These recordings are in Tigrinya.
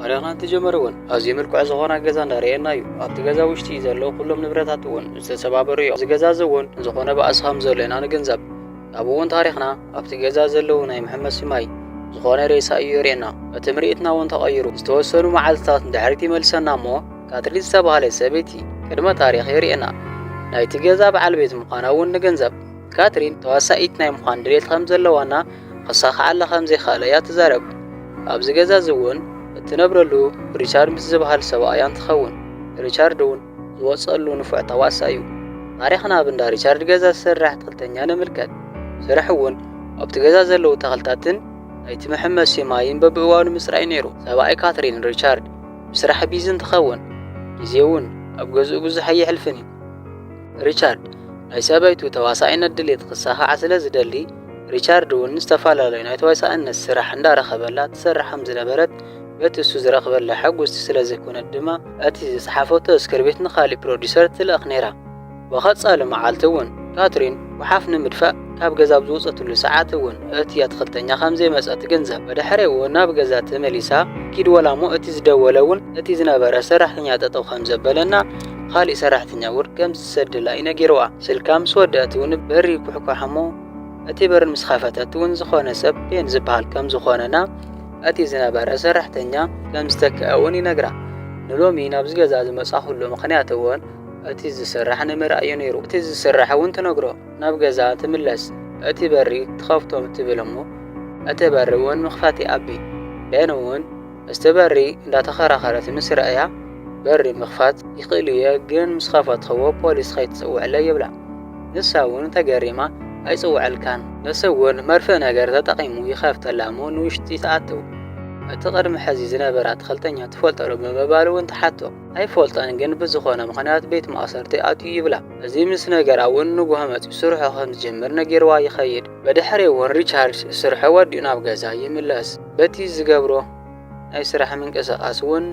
ታሪኽና እንትጀመረ እውን ኣዝዩ ምልኩዕ ዝኾነ ገዛ እንዳርኤና እዩ። ኣብቲ ገዛ ውሽጢ ዘለዉ ኩሎም ንብረታት እውን ዝተሰባበሩ እዮም። እዚ ገዛ እዚ እውን ዝኾነ ባእሲ ከም ዘሎ ኢና ንግንዘብ። ካብኡ እውን ታሪኽና ኣብቲ ገዛ ዘለዉ ናይ መሐመሲ ማይ ዝኾነ ሬሳ እዩ የርእየና። እቲ ምርኢትና እውን ተቐይሩ ዝተወሰኑ መዓልትታት ንድሕሪት ይመልሰና እሞ ካትሪን ዝተባህለት ሰበይቲ ቅድመ ታሪኽ የርእየና። ናይቲ ገዛ በዓል ቤት ምዃና እውን ንግንዘብ። ካትሪን ተዋሳኢት ናይ ምዃን ድሌት ከም ዘለዋና ኸሳኽዓላ ኸም ዘይከኣለ እያ እትዛረብ። ኣብዚ ገዛ እዚ እውን እትነብረሉ ሪቻርድ ምስ ዚብሃል ሰብኣያ እንትኸውን፣ ሪቻርድ እውን ዚወጽኣሉ ንፉዕ ተዋሳኣይ እዩ። ታሪኽና ኣብ እንዳ ሪቻርድ ገዛ ዚሰርሕ ኣትክልተኛ ንምልከት። ስርሑ እውን ኣብቲ ገዛ ዘለዉ ተኽልታትን ናይቲ መሐመሲ ማይን በብእዋኑ ምጽራይ ነይሩ። ሰብኣይ ካትሪን፣ ሪቻርድ፣ ብስራሕ ቢዚ እንትኸውን፣ ግዜ እውን ኣብ ገዝኡ ብዙሕ ኣየሕልፍን እዩ። ሪቻርድ ናይ ሰበይቱ ተዋሳኢነት ድሌት ክሳኻዕ ስለ ዝደሊ ሪቻርድ ውን ዝተፈላለዩ ናይ ተዋሳእነት ስራሕ እንዳረኸበላ ትሰርሕ ከም ዝነበረት በቲ እሱ ዝረኽበላ ሕጉስቲ ስለ ዘይኮነት ድማ እቲ ዝጸሓፈቶ ስክርቢት ንኻሊእ ፕሮዲሰር ትልእኽ ነይራ ብቐጻሊ መዓልቲ ውን ካትሪን ጉሓፍ ንምድፋእ ካብ ገዛ ኣብ ዝወጸትሉ ሰዓት ውን እቲ ኣትኽልተኛ ከም ዘይመጸ ትግንዘብ ብድሕሪ ውን ናብ ገዛ ተመሊሳ ኪድ ወላሞ እቲ ዝደወለ ውን እቲ ዝነበረ ሰራሕተኛ ጠጠው ከም ዘበለና ኻሊእ ሰራሕተኛ እውን ከም ዝሰደላ እዩ ነጊርዋ። ስልካ ምስ ወደኣት እውን በሪ ኩሕኳሕ እሞ እቲ በሪ ምስ ኸፈተት እውን ዝኾነ ሰብ ቤን ዝበሃል ከም ዝኾነና እቲ ዝነበረ ሰራሕተኛ ከም ዝተከኣ እውን ይነግራ። ንሎሚ ናብዚ ገዛ ዝመፃኹሉ ምኽንያት እውን እቲ ዝስራሕ ንምርኣይ እዩ ነይሩ። እቲ ዝስራሕ እውን ትነግሮ ናብ ገዛ ትምለስ እቲ በሪ ትኸፍቶ ትብል እሞ እቲ በሪ እውን ምኽፋት ይኣቢ። ቤን እውን። እስቲ በሪ እንዳተኸራኸረት ምስ ረኣያ በሪ ምኽፋት ይኽእል'የ ግን ምስ ኸፈትኽዎ ፖሊስ ኸይትጽውዕለይ ይብላ። ንሳ ውን ተገሪማ ኣይጽውዐልካን። ንሱ ውን መርፍእ ነገር ተጠቒሙ ይኸፍተላ'ሞ ንውሽጢ ትኣትው። እቲ ቕድሚ ሕዚ ዝነበረ ኣትኽልተኛ ትፈልጦ'ዶ ብምባል ውን ትሓቶ። ኣይፈልጦን ግን ብዝኾነ ምኽንያት ቤት ማእሰርቲ ኣትዩ ይብላ። እዚ ምስ ነገራ ውን ንግሆ መጺኡ ስርሑ ኸም ዝጅምር ነጊርዋ ይኸይድ። ብድሕሪኡ ውን ሪቻርድ ስርሑ ወዲኡ ናብ ገዛ ይምለስ። በቲ ዝገብሮ ናይ ስራሕ ምንቅስቓስ እውን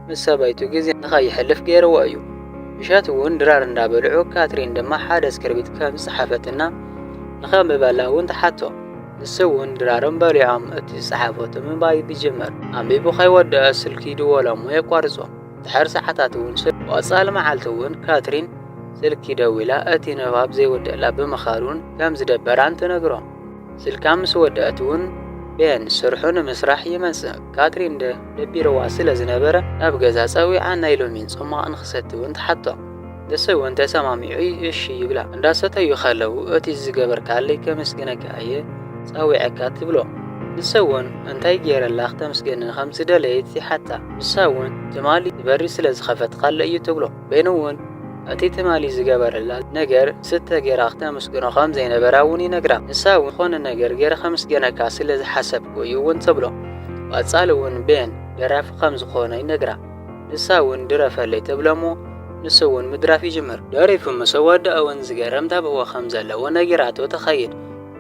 ምስ ሰበይቱ ግዜ ንኸይሕልፍ ገይርዎ እዩ። ምሸት እውን ድራር እንዳበልዑ ካትሪን ድማ ሓደ እስክርቢት ከም ዝጸሓፈትና ንኸንብበላ እውን ትሓቶ። ንሱ እውን ድራሮም በሊዖም እቲ ዝጸሓፈቶ ምንባይ ይጅምር። ኣንቢቡ ከይወደኣ ስልኪ ይድወሎ እሞ የቋርጾ። ድሕሪ ሰዓታት እውን ስልኪ። ብቐጻሊ መዓልቲ እውን ካትሪን ስልኪ ደዊላ እቲ ንባብ ዘይውድኣላ ብምኻኑን ከም ዝደበራን ትነግሮ። ስልካ ምስ ወደኣት እውን ቤን ስርሑ ንምስራሕ ይመጽእ። ካትሪን ደ ደቢርዋ ስለ ዝነበረ ናብ ገዛ ጸዊዓ ናይ ሎሚን ጹማቕ ንኽሰቲ እውን ትሓቶ። ንሱ እውን ተሰማሚዑ እሺ ይብላ። እንዳሰተዩ ከለዉ እቲ ዝገበርካለይ ከመስግነካ እየ ጸዊዐካ ትብሎ። ንሱ እውን እንታይ ገይረላ ክተምስገኒ ከም ዝደለየት ይሓታ። ንሳ እውን ትማሊ እቲ በሪ ስለ ዝኸፈትካለይ እዩ ትብሎ። በይኑ እውን እቲ ትማሊ ዝገበረላ ነገር ስተ ገይራ ክተምስግኖ ከም ዘይነበራ እውን ይነግራ። ንሳ እውን ዝኾነ ነገር ገይረ ከምስገነካ ስለ ዝሓሰብኩ እዩ እውን ትብሎ። ብቐጻሊ እውን ቤን ደራፊ ከም ዝኾነ ይነግራ። ንሳ እውን ድረፈለይ ትብሎ እሞ ንሱ እውን ምድራፍ ይጅምር። ደሪፉ ምስ ኣወድኣ እውን ዝገርም ተብህዎ ከም ዘለዎ ነጊራቶ ትኸይድ።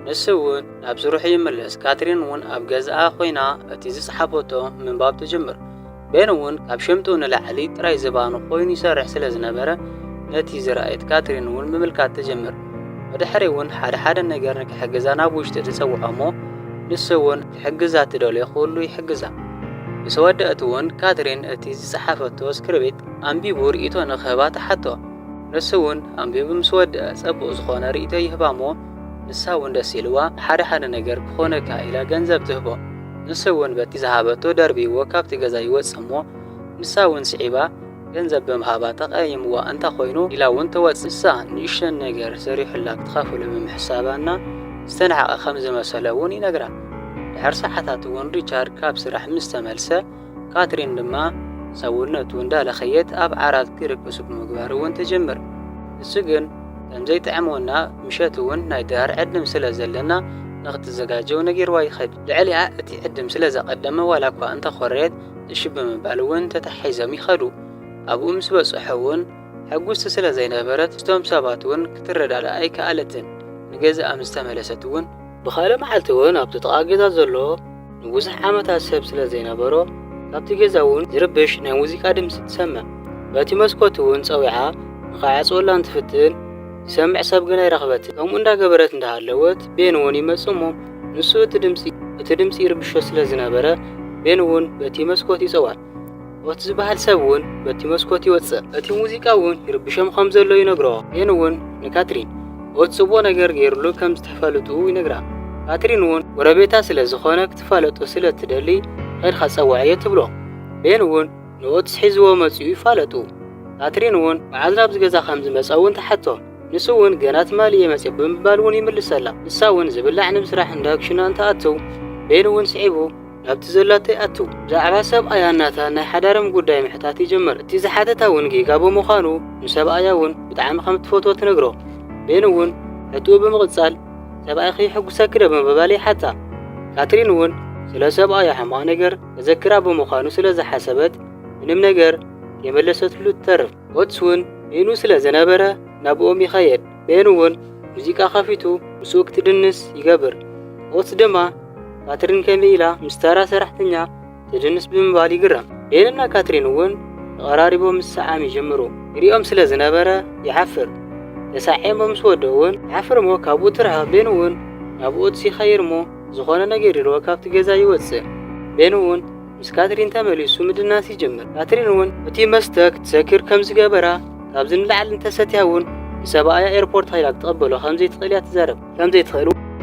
ንሱ እውን ናብ ስርሑ ይምለስ። ካትሪን እውን ኣብ ገዝኣ ኮይና እቲ ዝጸሓፈቶ ምንባብ ትጅምር። ቤን እውን ካብ ሽምጡ ንላዕሊ ጥራይ ዝባኑ ኮይኑ ይሰርሕ ስለ ዝነበረ፣ ነቲ ዝረኣየት ካትሪን እውን ምምልካት ትጅምር። ብድሕሪ እውን ሓደ ሓደ ነገር ንክሕግዛ ናብ ውሽጢ ትጸውዖ እሞ ንሱ እውን ክሕግዛ እትደልዮ ኩሉ ይሕግዛ። ምስ ወደእት እውን ካትሪን እቲ ዝጸሓፈቶ ስክርቢት ኣንቢቡ ርእይቶ ንክህባ ትሓቶ። ንሱ እውን ኣንቢቡ ምስ ወደኣ ጸቡቕ ዝኾነ ርእይቶ ይህባ እሞ፣ ንሳ ውን ደስ ኢልዋ ሓደ ሓደ ነገር ክኾነካ ኢላ ገንዘብ ትህቦ ንሱ ውን በቲ ዝሃበቶ ደርቢይዎ ካብቲ ገዛ ይወጽእ እሞ ንሳ ውን ስዒባ ገንዘብ ብምሃባ ተቀያይምዋ እንተ ኮይኑ ኢላ ውን ትወጽእ ንሳ ንእሽተን ነገር ሰሪሑላ ክትኸፍሎ ብምሕሳባ እና ዝተናሕቀ ከም ዝመሰሎ ውን ይነግራ ድሕሪ ሰዓታት ውን ሪቻርድ ካብ ስራሕ ምስ ተመልሰ ካትሪን ድማ ሰውነቱ እንዳለኸየት ኣብ ዓራት ክርቅሱ ብምግባር እውን ትጅምር። ንሱ ግን ከም ዘይጥዕሞ እና ምሸት እውን ናይ ድራር ዕድም ስለ ዘለና ንክትዘጋጀው ነጊርዋ ይኸድ። ልዕሊኣ እቲ ዕድም ስለ ዘቐደመ ዋላ እኳ እንተኾረየት እሺ ብምባል እውን ተተሓሒዞም ይኸዱ። ኣብኡ ምስ በጽሑ እውን ሕጉስቲ ስለ ዘይነበረት ምስቶም ሰባት እውን ክትረዳዳእ ኣይከኣለትን። ንገዛኣ ምስ ተመለሰት እውን ብኻልእ መዓልቲ እውን ኣብቲ ጥቓ ገዛ ዘሎ ንብዙሕ ዓመታት ሰብ ስለ ዘይነበሮ ካብቲ ገዛ እውን ዝርብሽ ናይ ሙዚቃ ድምጺ ትሰምዕ። በቲ መስኮት እውን ጸዊዓ ንኸይዓጽወላ እንትፍትን ዝሰምዕ ሰብ ግን ኣይረኽበትን። ከምኡ እንዳገበረት እንዳሃለወት ቤን እውን ይመጽእ እሞ ንሱ እቲ ድምጺ እቲ ድምጺ ይርብሾ ስለ ዝነበረ ቤን እውን በቲ መስኮት ይጸዋዕ። ኦት ዝበሃል ሰብ እውን በቲ መስኮት ይወጽእ። እቲ ሙዚቃ እውን ይርብሾም ኸም ዘሎ ይነግሮ። ቤን እውን ንካትሪን ኦት ጽቡቕ ነገር ገይሩሉ ከም ዝተፋለጥኡ ይነግራ። ካትሪን እውን ጎረቤታ ስለ ዝዀነ ክትፋለጦ ስለ እትደሊ ኼድካ ጸውዓዮ ትብሎ። ቤን እውን ንኦትስ ሒዝዎ መጺኡ ይፋለጡ። ካትሪን እውን መዓዝ ናብዚ ገዛ ኸም ዝመጸ እውን ትሓቶ። ንሱ እውን ገና ትማሊ እየ መጺኡ ብምባል እውን ይምልሰላ። ንሳ እውን ዝብላዕ ንምስራሕ እንዳ ክሽና እንትኣትው ቤን እውን ስዒቡ ናብቲ ዘላቶ ይኣቱ። ብዛዕባ ሰብኣያ ናታ ናይ ሓዳሮም ጉዳይ ምሕታት ይጅምር። እቲ ዝሓተታ ውን ጌጋ ብምዃኑ ንሰብኣያ ውን ብጣዕሚ ከም እትፈትዎ ትነግሮ። ቤን ውን ሕትኡ ብምቕጻል ሰብኣይኺ የሕጉሰኪ ዶ ብምባል ይሓታ። ካትሪን ውን ስለ ሰብኣያ ሕማቕ ነገር ከዘክራ ብምዃኑ ስለ ዝሓሰበት ምንም ነገር ከይመለሰትሉ ትተርፍ። ኦትስ ውን ቤኑ ስለ ዝነበረ ናብኦም ይኸየድ። ቤን እውን ሙዚቃ ከፊቱ ምስኡ ክትድንስ ይገብር። ኦትስ ድማ ካትሪን ከምይ ኢላ ምስ ተራ ሰራሕተኛ ትድንስ ብምባል ይግረም። ቤን እና ካትሪን እውን ተቐራሪቦም ምስዕዓም ይጅምሩ። ይሪኦም ስለ ዝነበረ ይሓፍር። ተሳዒሞም ምስ ወድኡ እውን ይሓፍር እሞ ካብኡ ትርሓቕ። ቤን እውን ናብ ኦትስ ይኸይድ እሞ ዝኾነ ነገር ኢልዎ ካብቲ ገዛ ይወጽእ። ቤን እውን ምስ ካትሪን ተመሊሱ ምድናስ ይጅምር። ካትሪን እውን እቲ መስተ ክትሰክር ከም ዝገበራ፣ ካብዚ ንላዕሊ እንተሰትያ እውን ንሰብኣያ ኤርፖርት ከይዳ ክትቕበሎ ከም ዘይትኽእል እያ ትዛረብ። ከም ዘይትኽእል እውን።